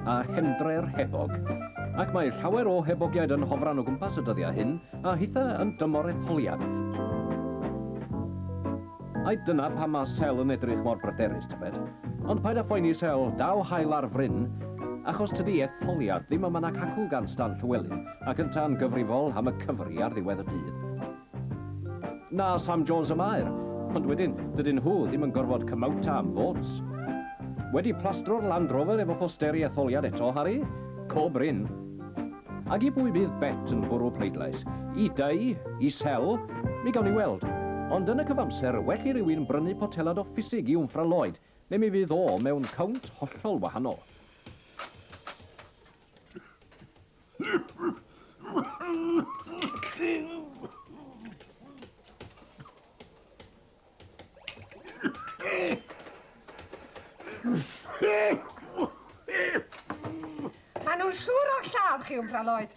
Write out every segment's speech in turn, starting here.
a Hendre'r Hebog, ac mae llawer o hebogiaid yn hofran o gwmpas y dyddiau hyn, a hitha yn dymor etholiad. Ai dyna pam ma Sel yn edrych mor bryderus, tybed? Ond paid â phoeni, Sel, daw haul ar fryn, achos tydi etholiad ddim yma nac acw gan Stan Llywelyn, ac yntau'n gyfrifol am y Cyfri ar ddiwedd y dydd. Na, Sam Jones y Maer, ond wedyn, dydyn nhw ddim yn gorfod cymauta am votes. Wedi plastro'r Land Rover efo posteri etholiad eto, Harry? Co brin. Ag i bwy bydd Bet yn bwrw pleidlais? I Dai? I Sel? Mi gawn ni weld. Ond yn y cyfamser, well i rywun brynu potelad o ffisig i Wnffra Lloyd, neu mi fydd o mewn cownt hollol wahanol. Maen nhw'n siŵr o lladd chi, Wmfra Lloyd.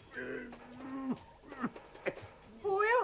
Hwyl!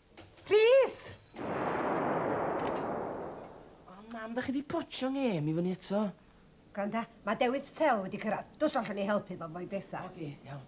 Rhys! O, mam, da chi di potsio ngêm i fyny eto. Gwranda, mae Dewydd Sel wedi cyrraedd. Dos allan i helpu fo fo'i bethau. Oce, okay, iawn.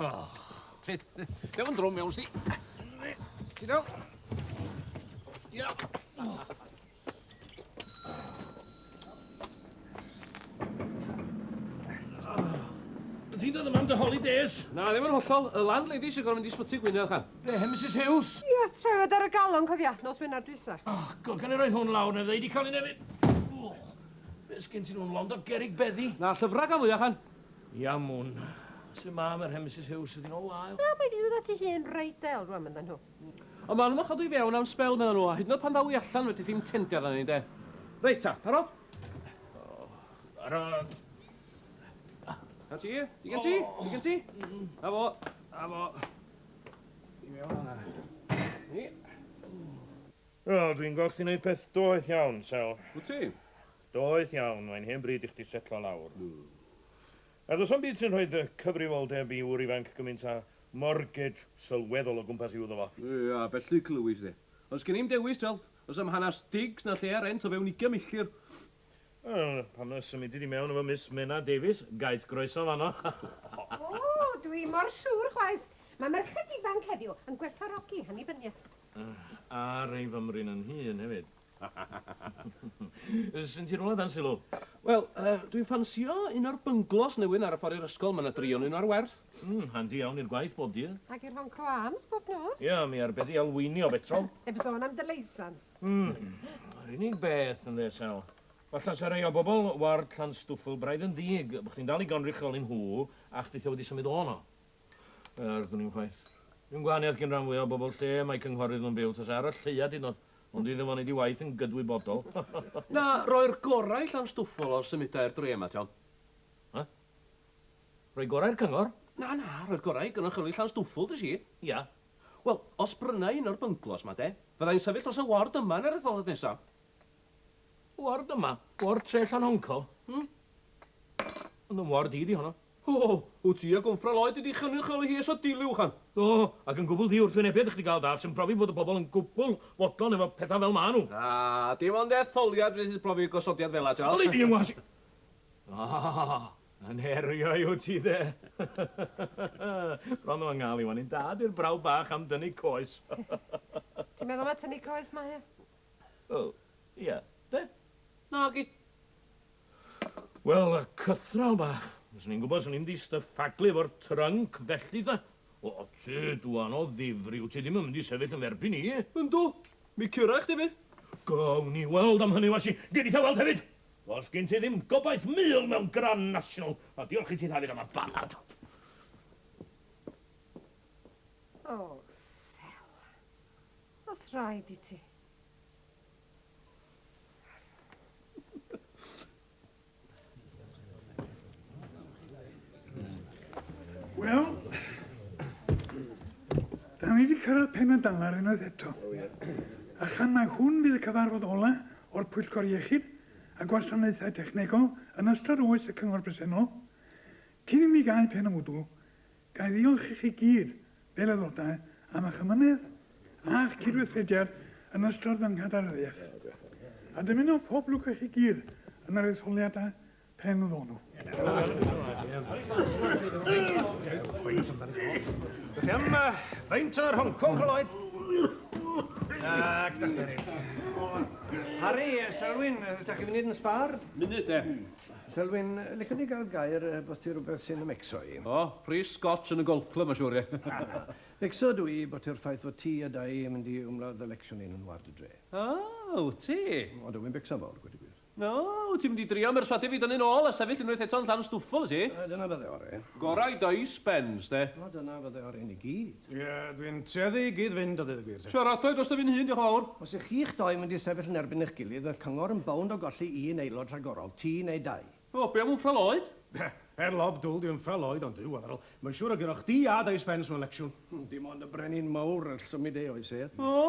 Oh. Dew yn drwm iawn, si. Ti'n iawn? Ia. Ti'n dod yma am dy holidays? Na, ddim yn hollol. Y landlady sy'n gorfod mynd i sbyty Gwynedd, chan. Be, Mrs Hughes? Ia, trefod ar y galon, cofia, nos Wener dwytha. Oh, god, gan i roed hwn lawr, neu ddeu di cael ei nefyd. Be, sgyn ti'n hwn, lond o gerig beddi? Na, llyfrau gan fwyaf, chan. Iamun. Su mae Mer hen Misus Huws ydi nol ail? Na, mae di dod ati hi'n reit del rwan myn dda nhw. Ond ma nhw yn chadw i fewn am sbel medda nhw, a hyd yn oed pan ddaw i allan fedrith hi'm tendio arna ni de. Reit ta, parod? Parod. Na ti, digen ti, digen ti. Na fo, na fo. I mewn fanna. Ni. Wel, dwi'n gweld chdi'n neud peth doeth iawn, Sel. Wt ti? Doeth iawn, mae'n hen bryd i chdi setlo lawr. A does na'm byd sy'n rhoi dy cyfrifoldeb i ŵr ifanc gymint â mortgage sylweddol o gwmpas i'w iddo fo. Ia, felly clywis di. Ond sgen i'm dewis, twel, does na'm hanas digs na lle ar rent o fewn ugian milltir. Wel, pam na symudi di mewn efo Miss Menna Davies, gaeth groeso fanno. O, dwi ddim mor siŵr chwaith. Mae merched ifanc heddiw yn gwerthfawrogi annibyniaeth. A'r ei fymryn yn hŷn hefyd. Syn ti rwla dan sylw? Wel, uh, dwi'n ffansio un o'r bynglos newydd ar y ffordd i'r ysgol, mae yna dri o'n un ar werth. Mm, handi iawn i'r gwaith bob dydd. Ac i'r hon cro ams bob nos. Ia, yeah, mi arbeddi alweinio betrol. Heb sôn am dy leisans. Mm, yr unig beth yn ddesel. Falla sa rei o bobl ward Llanstwffl braidd yn ddig, bod chdi'n dal i gonrycholi nhw, a chdi tha wedi symud o'n o. Yr gwn i'n chwaith. Dwi'n gwahaniaeth gyn rhan fwy o bobl lle mae cynghorwydd nhw'n byw, tas ar y lleia dyn nhw. Ond dwi ddim yn neud i waith yn gydwybodol. Na, roi'r gorau i Llanstwffwl os symudai'r dre yma, John. Huh? Rhoi gorau i'r cyngor? Na, na, rhoi'r gorau i gynrychioli Llanstwffwl, dys i. Ia. Wel, os brynai un o'r bynglos 'ma, de, fyddai'n sefyll dros y ward yma yn yr etholaeth nesa. Ward yma? Ward tre Llanhoncol? Hmm. Ond 'y ward i 'di honno. O! Wyt ti ag ymffral oed wedi chynrychioli hi eisiau dilli uwchan? Do, ac yn gwbl ddiwrthwynebiad i chdi gael dad sy'n profi bod y bobl yn gwbl fodlon efo pethau fel maen nhw. Na, dim ond etholiad fydd profi gosodiad fela, Charles. Wnei di yngwasu! O! Yn herio i wyt ti de? Bron o yngal i wan i'n dad i'r brawd bach am dynnu coes. Ti'n meddwl mai tynnu coes mae e? Wel, ia, de? Nagi. Wel, y cythral bach. Os o'n i'n gwybod, swn i'n mynd i styffaglu efo'r trunk felly, ta. O, ti, dwan o ddifri, wt ti ddim yn mynd i sefyll yn f'erbyn i? Yndw, mi cura i chdi 'fyd. Gawn ni weld am hynny, Washi. Gei di tha-weld hefyd. Does gen ti ddim gobaith mul mewn Grand National, a diolch i ti Dafydd am y banad. O, Sel. Os rhaid i ti. Wel, da ni wedi cyrraedd pen y dalar unwaith eto. A chan mai hwn fydd y cyfarfod ola o'r Pwyllgor Iechyd a Gwasanaethau Technegol yn ystod oes y Cyngor bresennol, cyn i ni gael pen y mwdwl, Ga i ddiolch i chi gyd, fel Aelodau, am eich amynedd a'ch cydweithrediad yn ystod fy nghadernyddiaeth, a dymuno pob lwc i chi gyd yn yr etholiadau pen y ddonw. Dych chi am faint o'r Hong Kong, Lloyd? Ac Harry, Selwyn, ydych chi'n mynd yn sbâr? Munud, de. Selwyn, licen di gael gair er bod ti rhywbeth sy'n ymmecso i. O, pris scotch yn y golf club mae'n siŵr, ie. Na, na. Becso dw i bod ti'r ffaith fod ti a Dai yn mynd i umladd ddelecsiwn ein ward y dre. O, wyt ti? O, dw i'n becso'n fawr, gweud y gwir. O, wyt ti'n mynd i drio mherswadio fi dynnu'n ôl a sefyll unwaith eto yn Llanstwffel, wyt ti? Dyna fydde ore. Gorau Dai Spens, de. O, dyna fydde ore i ni gyd. Ie, dwi'n tueddu i gyd-fynd a dweud y gwir te. Siaradai drosta fi'n hun, diolch yn fawr. Os ych chi'ch dou yn mynd i sefyll yn erbyn eich gilydd, mae'r cyngor yn bownd o golli un aelod rhagorol, ti neu dau. O, be am Wmffra Lloyd? Be? Er lob dwl 'di Wmffra Lloyd, ond Duw, Eryl, mae'n siŵr y gyrroch chdi a dy Spence mewn lecsiwn. Hmm, dim ond y brenin mawr all symud ei oes ef. O,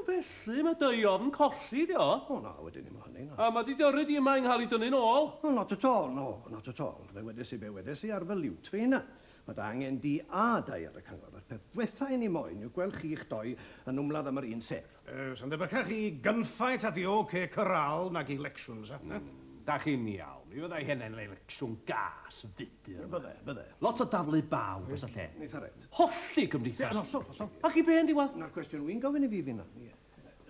felly, mae dy ofn colli di o. O, na, wedyn ddim o hynny, na. A mae dy diyrru di yma i ngha'l ei dynnu'n ôl. Wel, not at all, no, not at all. Fe wedes i be wedes i ar fy liwt fy hunan. Mae angen di a dau ar y cyngor. Yr peth dwetha i ni moyn yw gweld chi i'ch doi yn wmladd am yr un sedd. Yy, sa'n debycach i gunfight at the OK Corral nag i 'lecsiwn, sa? Hmm, da chi'n iawn. Mi fydda i hynna'n elecsiwn gas, fudur yma. Bydde, bydde. Lot o daflu baw dros y lle. Eitha reit. Hollti cymdeithas. Yn hollol, hollol. Ac i be yn diwadd? Na'r cwestiwn wi'n gofyn i fi finna, ie.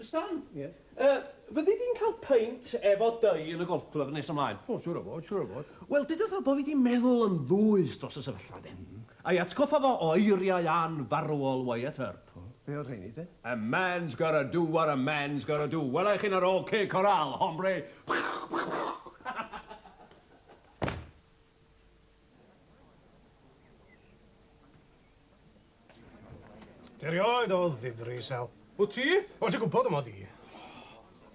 Stan? Yes? Yy, fyddi di'n cael peint efo Dei yn y golf club nes ymlaen? O, siŵr o fod, siŵr o fod. Wel, deuda wrtho bo' fi di meddwl yn ddwys dros y sefyllfa de. A'i atgoffa fo o eiriau anfarwol Wyatt Earp. O, be' oedd rheini de? A man's gotta do what a man's gotta do. Wela i chi yn yr OK Corral, hombre! Erioed oedd ddifri, Sel. Wyt ti? Wel, ti'n gwybod y mod i.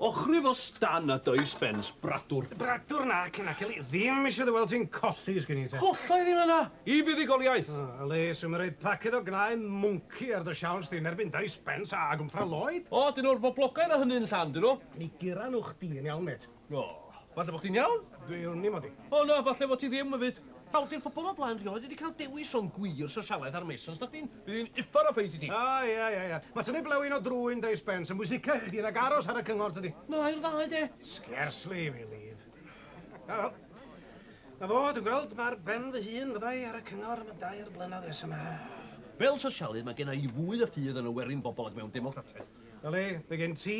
Ochrif o stan a does bens bradwr. Bradwr nac i nac eli ddim eisiau dy weld ti'n colli sgen i te. Colla i ddim yna, i fuddugoliaeth! O, eli, swm yn rhoid paced o gnau mwnci ar dy siawns di yn erbyn does bens a gwmffra Lloyd. O, dyn nhw'r boblogaidd a hynny'n llan, dyn nhw. Mi gura nhw chdi yn iawn, mêt. O, falle bod chdi'n iawn. Dwi wn i, Modi. O na, falle fod ti ddim, Myfyd. Nawr, di'r pobl o blaen rioed wedi cael dewis rhwng gwir sosialaeth a'r Masons, na chdi? Bydd hi'n uffar o ffeit i ti. O, ia, ia, ia. Mae tynnu blewyn o drwyn Dei Spence yn bwysicach i chdi nag aros ar y cyngor, tydi? Na, i'r ddau, de. Scarcely, I believe. O, wel. Na fo, dwi'n gweld mae ar ben fy hun fydda i ar y cyngor am y dair blynedd nesa 'ma. Fel sosialydd, mae genna i fwy o ffydd yn y werin bobl ac mewn democratiaeth. Yli, mae gen ti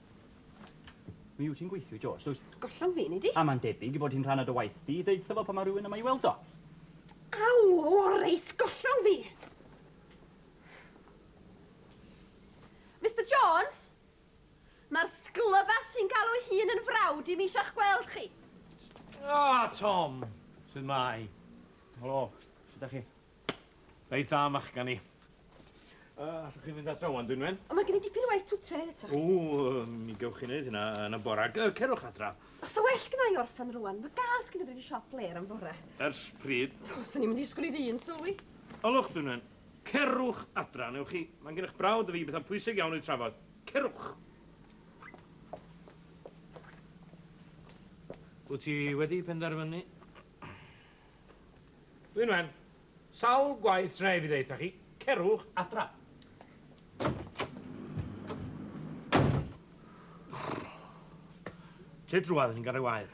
Mi wyt ti'n gweithio i George, dwyt? Gollwng fi, nei di? A mae'n debyg i fod hi'n rhan o dy waith di i ddeud wrtho fo pan mae rhywun yma i weld o. Aw, o reit, gollwng fi! Mister Jones! Mae'r sglyfad sy'n galw'i hun yn frawd i mi eisiau'ch gweld chi. Ah, Tom! Sut mae? Helo, sut da chi? Reit dda, machgan i. Uh, allwch chi fynd adra wan, Dwynwen? Ond mae gen i dipyn o waith twtio neud eto. Ww, mi gewch chi wneud hynna yn y bora. Cerwch adra. Os sa well gyda i orffan rwan, mae gas gen i ddod i siop fler am fore. Ers pryd? Do, swn i'n mynd i sgwni ddyn, sylwi. Olwch, Dwynwen. Cerwch adra, newch chi. Mae'n gennych brawd y fi bethau pwysig iawn i'w trafod. Cerwch! Wyt ti wedi penderfynu? Dwi'n wen. Sawl gwaith dre fi ddeutha chi, cerwch adra. Tŷ drwad yn gan ei wair.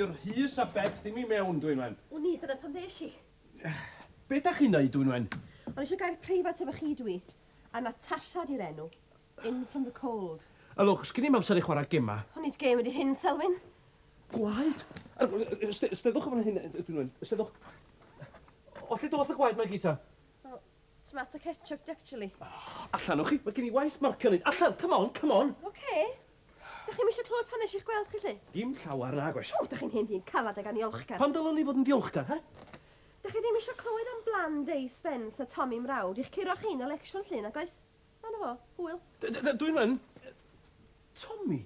I'r Rhys a Bet ddim i mewn, dwi'n wen. Wn i, dyna pam ddesh i. Be da chi'n neud, dwi'n wen? O'n eisiau gair preifat efo chi, dwi. A Natasha 'di'r enw. In from the cold. Ylwch, sgin i'm amser i chwarae gemau. O nid gêm ydi hyn, Selwyn. Gwaed? Ysteddwch o fan hyn, dwi'n dweud. Ysteddwch. O lle doth y gwaed 'ma i gyd ta? O, tomato ketchup 'di actually. Allan o chi, mae gen i waith marcio neud. Allan, come on, come on! Ocê. Dach chi'm isio clywed pam nes i'ch gweld chi 'lly? Dim llawer, nag oes. O, dach chi'n hen ddyn calad ag aniolchgar. Pam dylwn i fod yn ddiolchgar, he? Dych chi ddim eisiau clywed am Bland Dei Spence a Tommy Mrawd i'ch curo chi yn Elecsiwn Llŷn nag oes? A 'na fo. Hwyl. Dwi'm yn. Tommy?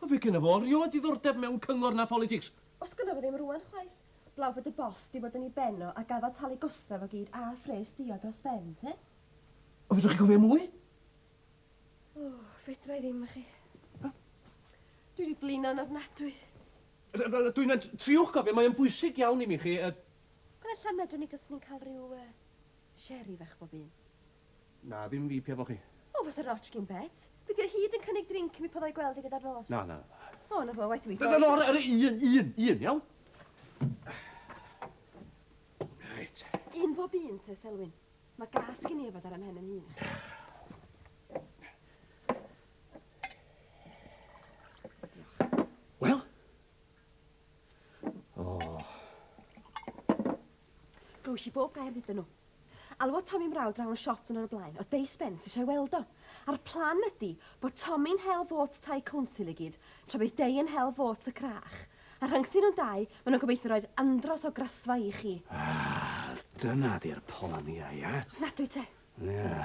Wel fe gynna fo rioed ddiddordeb mewn cyngor na pholitics. Os gynna fo ddim rŵan chwaith. Blaw bod y boss 'di bod yn 'i ben o a gaddo talu gosta fo gyd a phres diod dros ben, te? O fedrwch chi gofio mwy? O, fedrai ddim, y'chi. Dwi 'di blino'n ofnadwy. Dwi'n mynd tri'ch cofio, mae o'n bwysig iawn i mi chi, yy. Wel ella medrwn ni taswn i'n cael rhyw yy sherry fach bob un. Na, ddim fi, piau fo chi. O, fasa rotsh gin Bet. Be di o hyd yn cynnig drink i mi pan fo i gweld hi gyda'r nos? Na, na, na. O, na fo, waeth i mi droi. Nawr, yr un, un, un, iawn? Reit. Un bob un te, Selwyn. Mae gas gin i yfed ar 'y mhen yn hun. Wel? O. Oh. Glywish i bob gair ddydyn nhw. Alwodd Tommy mrawd draw yn y siop dwrnod y blaen, oedd Dei Spence eisiau weld o. A'r plan ydy bod Tommy'n hel fôts tai council i gyd, tra bydd Dei yn hel fôts y crach. A rhyngthyn nhw'n dau, maen nhw'n gobeithio roi'r andros o grasfa i chi. Ah, dyna di'r plan ia, ia? Ofnadwy te. Ia.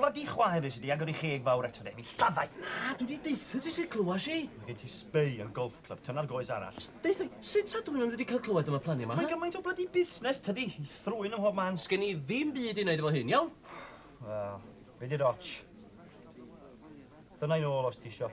Bloody chwaer nes i di agor i cheg fawr eto de, mi lladdai! Na, dwi di deutha ti sut clywais i! Mae gen ti sbei yn golf club, tyna'r goes arall. Deutha i, sut sa dwy'n wedi cael clywed am y planiau ma? Mae gymaint o bloody busnes tydi, i thrwyn ym mhob man. Sgen i ddim byd i wneud efo hyn, iawn? Wel, be di'r ots? Dyna i'n ôl os ti isio.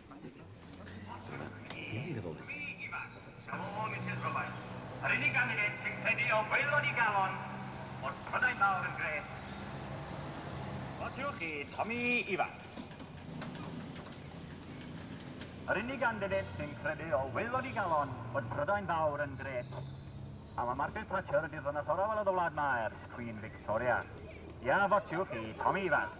Yr unig ganlyniad sy'n credu o waelod i galon bod Prydain Fawr yn grêt. Votiwch i Tommy Evans. Yr unig ganlyniad sy'n credu o waelod i galon bod Prydain Fawr yn grêt. Am y Margaret Thatcher ydy'r ddynas orau welodd y wlad ma ers Queen Victoria. Ia, votiwch i Tommy Evans.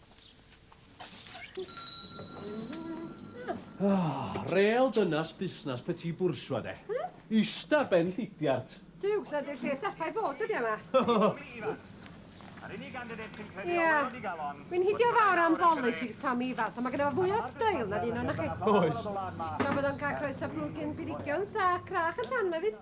Oh, rel dynas busnas petit bourgeois de. Hmm? Ista ben llidiart. Duw, sy'n dweud lle saffa i fod ydi yma. Yr unig gandidate sy'n credu yeah. o wedi galon. Wy'n hidio fawr am politics Tom Evans, ond mae gen i fwy o stael na dyn o'n chi. Oes. Tra bod o'n cael croeso brwgyn birigion sa crach y llan yma fyd.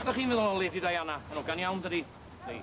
Be dach chi'n meddwl o Lady Diana? Yn ogan iawn, dydi? Neu...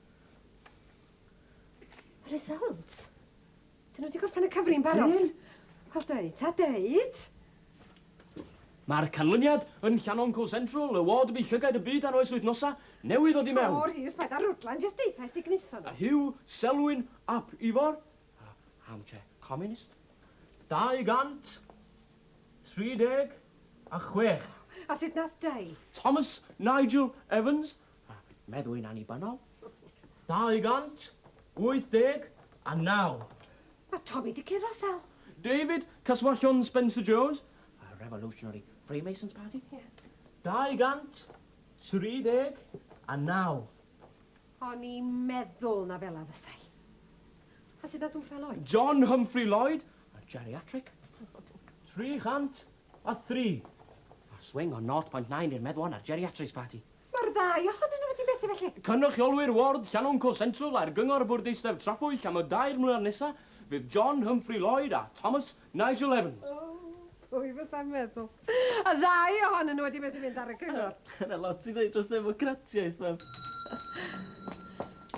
Results? Dyn nhw wedi gorffen y cyfri'n barod. Dyn? Wel deud, ta deud! Mae'r canlyniad yn Llannon Co Central, y ward bu llygaid y byd ar oes wythnosa newydd o di mewn. O, Rhys, paid â rwdlan, jyst deutha i sut gwnaethon nhw. Hugh Selwyn ap Ifor, armchair communist, 236. A sut nath Dei? Thomas Nigel Evans, a meddwy'n annibynnol. 289. Mae Tommy di curo, Sel. David, Caswallon Spencer Jones, a Revolutionary Freemasons Party. Ie. 239. O'n i'n meddwl na fela fysai. A sut nath Humphrey Lloyd? John Humphrey Lloyd, a geriatric. 300. A thri. A swing o 0.9 i'r meddwon a'r geriatrics parti. Mae'r ddau ohonyn nhw wedi methu felly. Cynrychiolwyr ward Llanoncol Central a'r Gyngor Bwrdeistref Trafwyll am y dair mlynedd nesa fydd John Humphrey Lloyd a Thomas Nigel Evans. O, pwy fysa'n meddwl. Y ddau ohonyn nhw wedi methu mynd ar y cyngor. Dyna lot ti ddeud dros ddemocratiaeth, Mem.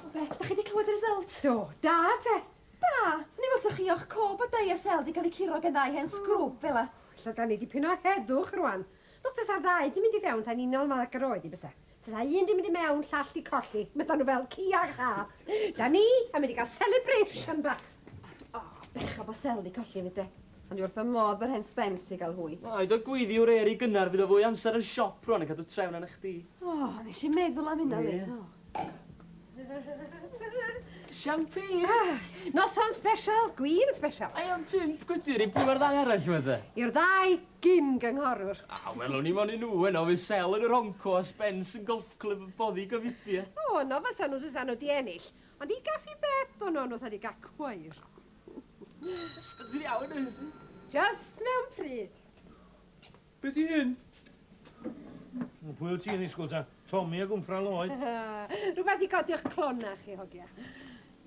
O Bet, da chi 'di clywed y result? Do, da te. Da! Neu fel 'sa chi o'ch cob a dau a sel 'di cael eu curo gennai hen sgrwb fela. O, ella 'da ni dipyn o heddwch rwan. Wel, tasa'r ddau 'di mynd i fewn 'sa'n unol â ag yr oedd hi bysa. Tasa un 'di mynd i mewn, llall 'di colli. Bysa nhw fel ci a chath. 'Da ni yn mynd i gael celebration bach. O, bechod bod sel 'di colli 'fyd de. Ond dwi wrth fy modd bod hen Spence 'di cael hwy. Paid â gweiddi wr Eri gynnar fydd o fwy o amser yn siop rwan yn cadw trefn arna chdi. O, nes i'm meddwl am hynna 'fyd. Champagne! Noson sbesial, gwin sbesial. I am pump gwydr i pwy o'r ddau arall yma te? I'r ddau gyn-gynghorwr. Ah, wel, o'n i mon i nhw heno, fydd Sel yn y Ronco a Spence yn Golf Clwb y Boddi Gofidio. O, yno fasa nhw fysa nhw di ennill. Ond i gaffi bed o'n nhw'n fatha di gael cwair. Spence yn iawn, oes? Just mewn pryd. Be di hyn? Wel, pwy wyt ti'n ddisgwyl ta? Tommy a gwmffra Lloyd? Rhywbeth i godi o'ch clona chi, hogia.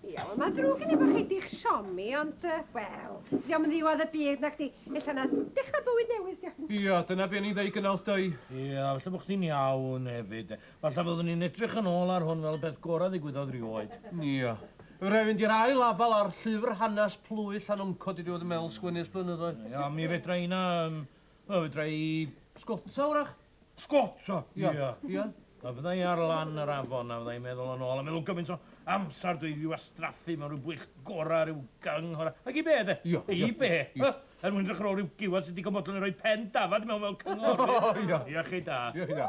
Ia, wel, mae'n drwg gen i bod chi di'ch siomi, ond, uh, wel, di o'm yn ddiwedd y byd na chdi. Ella na dechrau bywyd newydd, diolch. Ia, dyna be ni'n ddeud gynnal, dau. Ia, felly bod chdi'n iawn hefyd. Falla fyddwn ni'n edrych yn ôl ar hwn fel y peth gorau ddigwyddodd rioed. Ia. Fe wna i fynd i'r ail afal ar llyfr hanes plwyf Llanuncod i ddiwedd y mel sgwennu ers blynyddoedd. Ia, mi fedra i na, yym, wel, fedra i sgota, wrach. Sgota? Ia. Ia. Ia. A fydda i ar lan yr afon a fydda i'n meddwl yn ôl a meddwl gymaint o amser dwi 'di wastraffu mewn rhyw bwych gorau, rhyw gyng horau. Ac i be, de? Ia. I be? Ia. Er mwyn edrych ar ôl rhyw giwad sy'n digon bodlon i roi pen dafad i mewn fel cynghori. O, ia. Ia chi da. Ia chi da.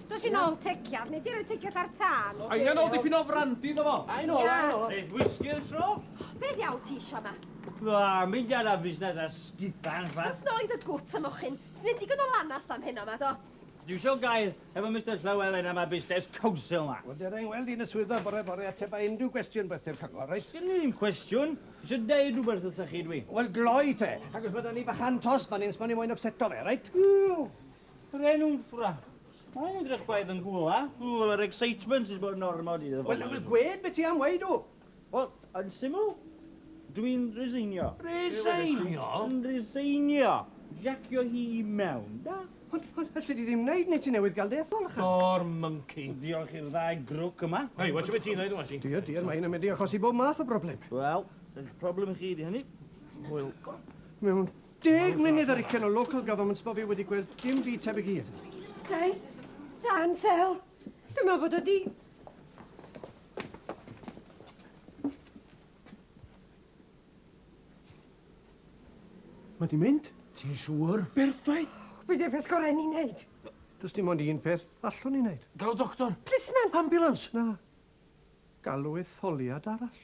Dos i nôl tecial, neu di roi tecial ar tân. Angen ôl dipyn o frandi iddo fo. I know, I know. Neith whisky yn tro. Be ddiawl ti isio yma? O, mynd ar a fusnes a sgitha yn ffa. Dos nôl i dy gwt a mochyn. Ti neud digon o lanast am heno ma, do? Dwi isio gair efo Mister Llywelyn am y busnes council ma. Wel, dera i ngweld i yn y swyddfa bore bore ateb a unrhyw gwestiwn byth i'r cyngor, reit? Sgen i ddim cwestiwn. Isio deud rhywbeth wrthoch chi dwi. Wel, gloi te. Ac os ma da ni bachan tost man 'yn sbon i moyn ypseto fe, reit? Eww! Renwmffra. Mae'n edrych gwaith yn gwla. Wel, mae'r excitement sydd bod yn ormod i ddod. Wel, wel, gwed beth ti am weid o. Wel, yn syml, dwi'n resignio. Resignio? Yn resignio. Jacio hi i mewn, da? Ond, ond, alli di ddim wneud, neu ti newydd gael dy ethol allan. O'r mwnci. Diolch i'r ddau grwc yma. Hei, watch beth ti'n ddeud, Wasi. Diolch, diolch, mae hyn yn mynd i achosi bob math o broblem. Wel, eich problem chi ydi hynny. Wel, mewn Deg munud ar ugen o local governments bo fi wedi gweld dim byd tebyg i hyn. Dai, dan sel. Dwi'n meddwl bod o di... Mae di mynd? Ti'n siŵr? Berffaith! Be di'r peth gorau ni'n neud? Does dim ond un peth allwn ni neud. Galw doctor! Plisman! Ambulance! Na. Galw etholiad arall.